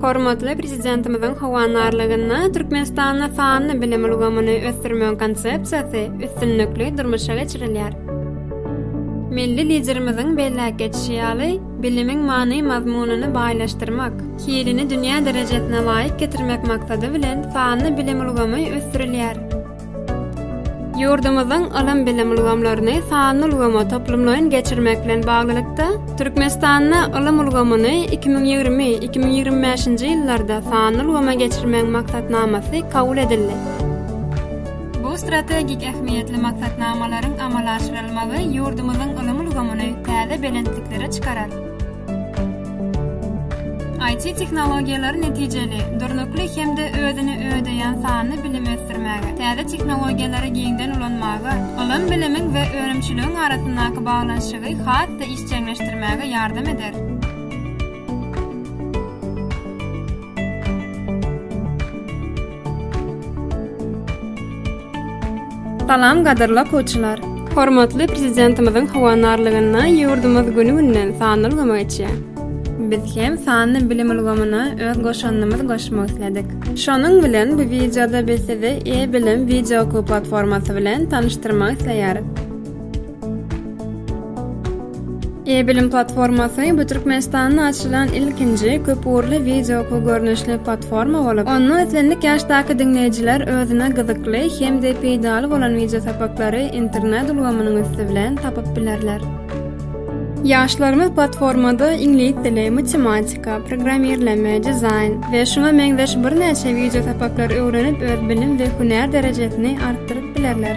Hormatly Prezidentimiziň howandarlygynda Türkmenistanda sanly bilim ulgamyny ösdürmegiň konsepsiýasy üstünlikli durmuşa geçirilýär. Milli Liderimiziň belläp geçişi ýaly, bilimiň many-mazmunyny baýlaşdyrmak, hilini dünýä derejesine laýyk getirmek maksady bilen sanly bilim ulgamy ösdürilýär. Ýurdumyzyň ylym-bilim ulgamlaryny sanly ulgama toplumlaýyn geçirmek bilen baglylykda, Türkmenistanda ylym ulgamyny iki müň ýigrimi, iki müň ýigrimi bäşinji ýyllarda sanly ulgama geçirmegiň maksatnamasy kabul edildi. Bu strategik ähmiýetli maksatnamalaryň amala aşyrylmagy ýurdumyzyň ylym ulgamyny täze belentliklere çykarar. IT tehnologiýalary netijeli, durnukly hem-de özüni ödeýän sanly bilimi ösdürmäge, täze tehnologiýalary giňden ulanmaga, ylym-bilimiň we önümçiligiň arasyndaky baglanyşygy has-da işjeňleşdirmäge ýardam eder. Salam gadyrly okuwçylar! Hormatly Prezidentimiziň howandarlygynda ýurdumyz güni-günden sanly ulgama geçýär. Biz hem sanly bilim ulgamyna öz goşandymyzy goşmak isledik. Şonuň bilen bu wideoda biz sizi E-bilim wideookuw platformasy bilen tanyşdyrmak isleýäris. E-bilim platformasy bu Türkmenistanda açylan ilkinji köpugurly wideo okuw görnüşli platforma bolup, onda islendik ýaşdaky diňleýjiler özüne gyzykly hem-de peýdaly bolan wideo sapaklary internet ulgamynyň üsti bilen tapyp bilerler. Ýaşlarymyz platformada iňlis dili, matematika, programmirleme, dizaýn we şuňa meňzeş birnäçe wideo sapaklary öwrenip öz bilim we hünär derejesini artdyryp bilerler.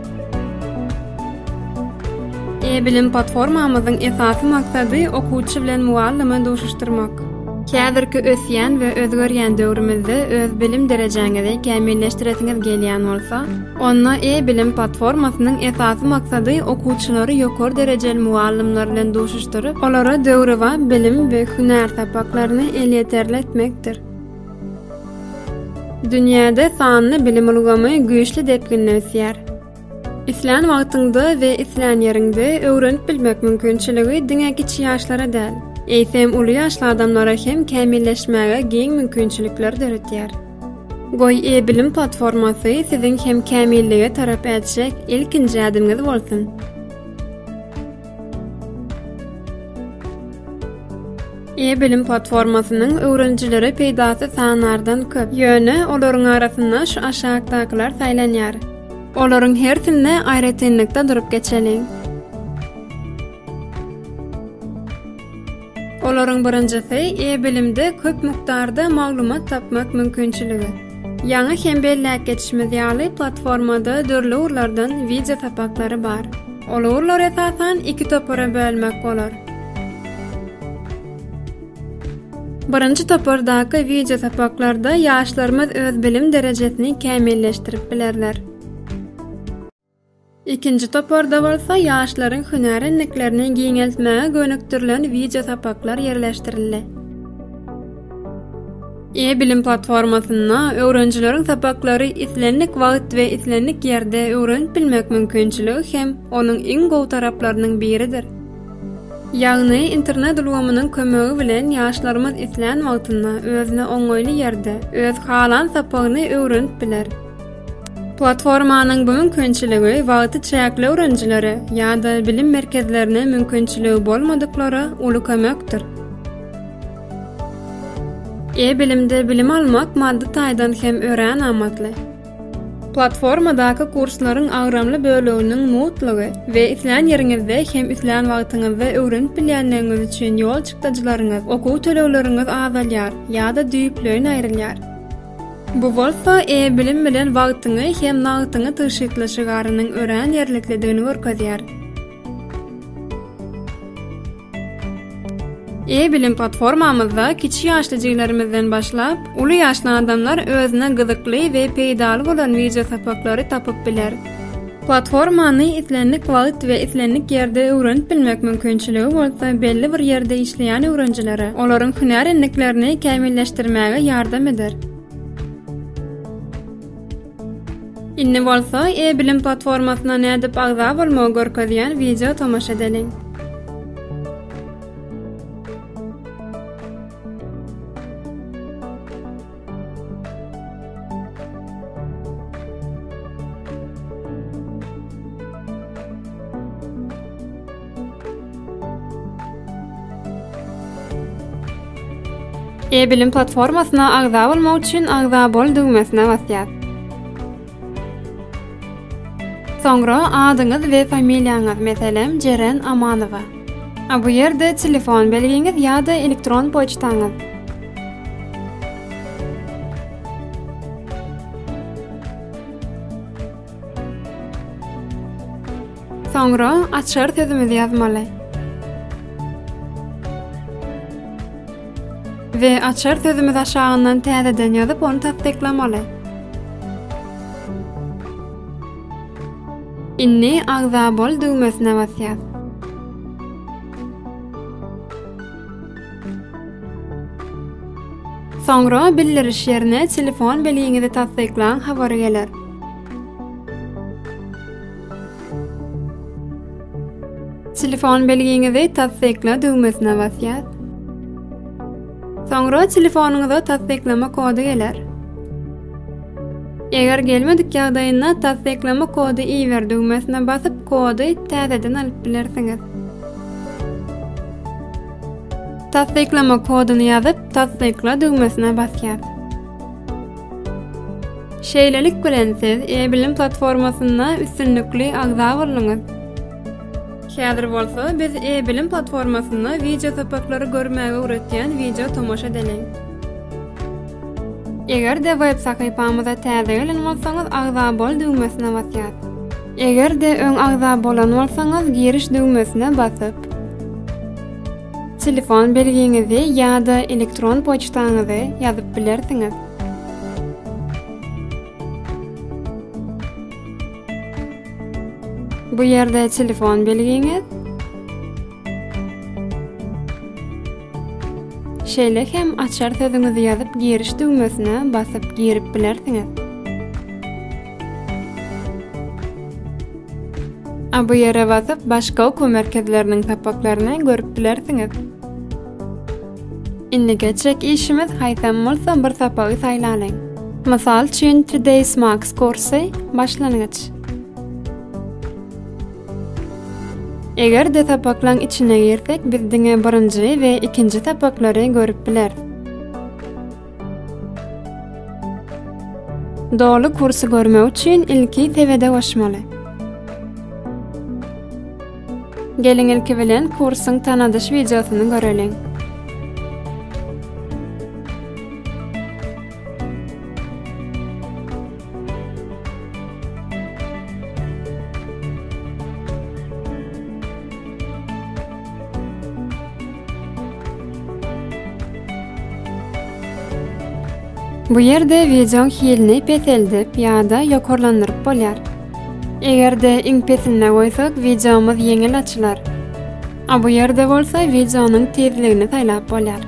E-bilim platformamyzyň esasy maksady okuwçy bilen mugallymy duşuşdyrmak. Häzirki ösýän we özgerýän döwrümizde öz bilim derejäňizi kämilleşdiresiňiz gelýän bolsa, onda E-bilim platformasynyň esasy maksady okuwçylary ýokary derejeli mugallymlar bilen duşuşdyryp, olara döwrebap bilim we hünär sapaklaryny elýeterli etmekdir. Dünýäde sanly bilim ulgamy güýçli depginde ösýär. Islän wagtyňda we islän ýeriňde öwrenip bilmek mümkinçiligi diňe kiçi ýaşlara däl, eýsem uly ýaşly adamlara hem kämilleşmäge giň mümkinçilikler döretýär. Goý, e-bilim platformasy siziň hem kämillige tarap ätjek ilkinji ädimiňiz bolsun! E-bilim platformasynyň öwrenijilere peýdasy sanardan köp. Ýöne olaryň arasynda şu aşakdakylar saýlanýar. Olaryň hersinde aýratynlykda durup geçeliň. Olaryň birinjisi e-bilimde köp mukdarda maglumat tapmak mümkinçiligi. Ýaňy hem belläp geçişimiz ýaly, platformada dürli ugurlardan wideo sapaklary bar. Ol ugurlary esasan iki topara bölmek bolar. Birinji topardaky wideo sapaklarda ýaşlarymyz öz bilim derejesini kämilleşdirip bilerler. Ikinji toparda bolsa ýaşlaryň hünär endiklerini giňeltmäge gönükdirilen wideo sapaklar ýerleşdirildi. E-bilim platformasynda öwrenijileriň sapaklary islendik wagt we islendik ýerde öwrenip bilmek mümkinçiligi hem onuň iň gowy taraplarynyň biridir. Ýagny, internet ulgamynyň kömegi bilen ýaşlarymyz islän wagtynda, özüne oňaýly ýerde, öz halan sapagyny öwrenip biler. Platformanyň bu mümkinçiligi wagty çäkli öwrenijilere ýa-da bilim merkezlerine mümkinçiligi bolmadyklara uly kömekdir. E-bilimde bilim almak maddy taýdan hem örän amatly. Platformadaky kurslaryň agramly böleginiň mutlygy we islän ýeriňizde hem islän wagtyňyzda öwrenip bilýänligiňiz üçin ýol çykdajylaryňyz, okuw tölegleriňiz azalýar ýa-da düýpleýin aýrylýar. Bu bolsa e-bilim bilen wagtyňy hem nagtyňy tygşytla şygarynyň örän ýerliklidigini görkezýär. E-bilim platformamyzda kiçi ýaşly jiglerimizden başlap, uly ýaşly adamlar özüne gyzykly we peýdaly bolan wideosapaklary tapyp biler. Platformany islendik wagt we islendik ýerde öwrenip bilmek mümkinçiligi bolsa belli bir ýerde işleýän öwrenjilere olaryň hünär endiklerini kämilleşdirmäge ýardam eder. Indi bolsa e-bilim platformasyna nädip agza bolmagy görkezýän wideo tomaşa edeliň. E-bilim platformasyna agza bolmak üçin Agza bol düwmesine basýas. Soňra adyňyz we familiýaňyz, meselem, Jeren Amanowa. A bu ýerde telefon belgiňiz ýa-da elektron poçtaňyz. Soňra açar sözümizi ýazmaly. We açar sözümiz aşagyndan täzeden ýazyp ony tassyklamaly. Inni agza bol düwmesine basýas. Soňra bildiriş ýerine telefon belgiňizi tassyklaň habary geler. Telefon belgiňizi tassykla düwmesine basýas. Soňra telefonyňyza tassyklama kody geler. Eger gelmedik ýagdaýynda tassyklama kody iber düwmesine basyp, kody täzeden alyp bilersiňiz. Tassyklama kodyny ýazyp, tassykla düwmesine basýas. Şeýlelik bilen siz e-bilim platformasynda üstünlikli agza bolduňyz! Häzir bolsa biz e-bilim platformasynda wideo sapaklary görmäge öwretýän wideo tomaşa edeliň. Eger-de web sahypamyza täze gelen bolsaňyz agza bol düwmesine basýas. Eger-de öň agza bolan bolsaňyz giriş düwmesine basyp. Telefon belgiňizi ýa-da elektron poçtaňyzy ýazyp bilersiňiz. Bu ýerde telefon belgiňiz, şeýle hem açar sözüňizi ýazyp giriş düwmesine basyp girip bilersiňiz. A bu ýere basyp, başga okuw merkezleriniň sapaklaryny görüp bilersiňiz. Indi geçjek işimiz haýsam bolsa bir sapagy saýlalyň. Mysal üçin, Today's Max kursy, başlangyç. Eger-de sapaklaň içine girsek, biz diňe birinji we ikinji sapaklary görüp bileris. Doly kursy görmek üçin ilki sebede goşmaly. Geliň ilki bilen kursyň tanadyş wideosyny göreliň. Bu ýerde wideoň hilini peseldip ýa-da ýokarlandyryp bolýar. Eger-de iň pesinde goýsak, wideomyz ýeňil açylar. A bu ýerde bolsa wideonyň tizligini saýlap bolýar.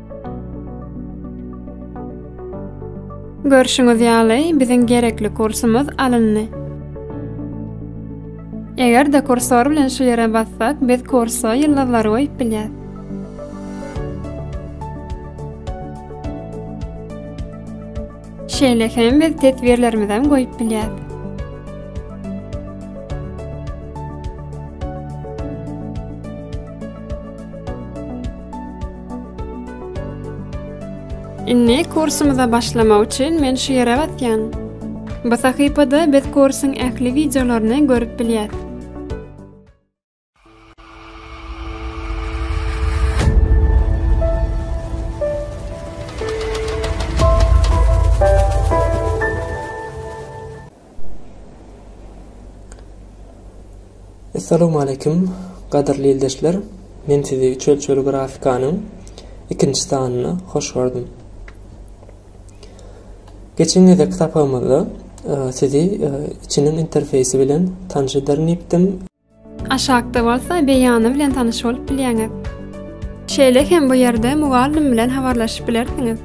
Görşüňiz ýaly, biziň gerekli kursumyz alyndy. Eger-de kursor bilen şu ýere bassak, biz kursa ýyldyzlary goýup bilýäs. Şeýle hem biz teswirlerimizem goýup bilýäs. Indi kursumyza başlamak üçin men şu ýere basýan. Bu sahypada biz kursuň ähli wideolaryny görüp bilýäs. Assalamu aleykum, gadyrly ildeşler. Men sizi üç ölçegli grafikanyň ikinji sanyna hoş gördüm. Geçen gezek kitapamyzda e, sizi e, içiniň interfeýsi bilen tanyş ederin diýipdim. Aşakda bolsa beýany bilen tanyş bolup bilýäňiz. Şeýle hem bu ýerde mugallym bilen habarlaşyp bilersiňiz.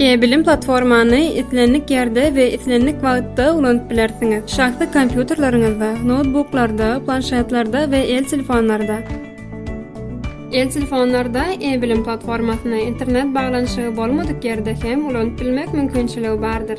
E-bilim platformany islendik ýerde we islendik wagtda ulanyp bilersiňiz. Şahsy kompýuterleriňizde, noutbuklarda, planşetlerde we el telefonlarda. El telefonlarda e-bilim platformasyny internet baglanyşygy bolmadyk ýerde hem ulanyp bilmek mümkinçiligi bardyr.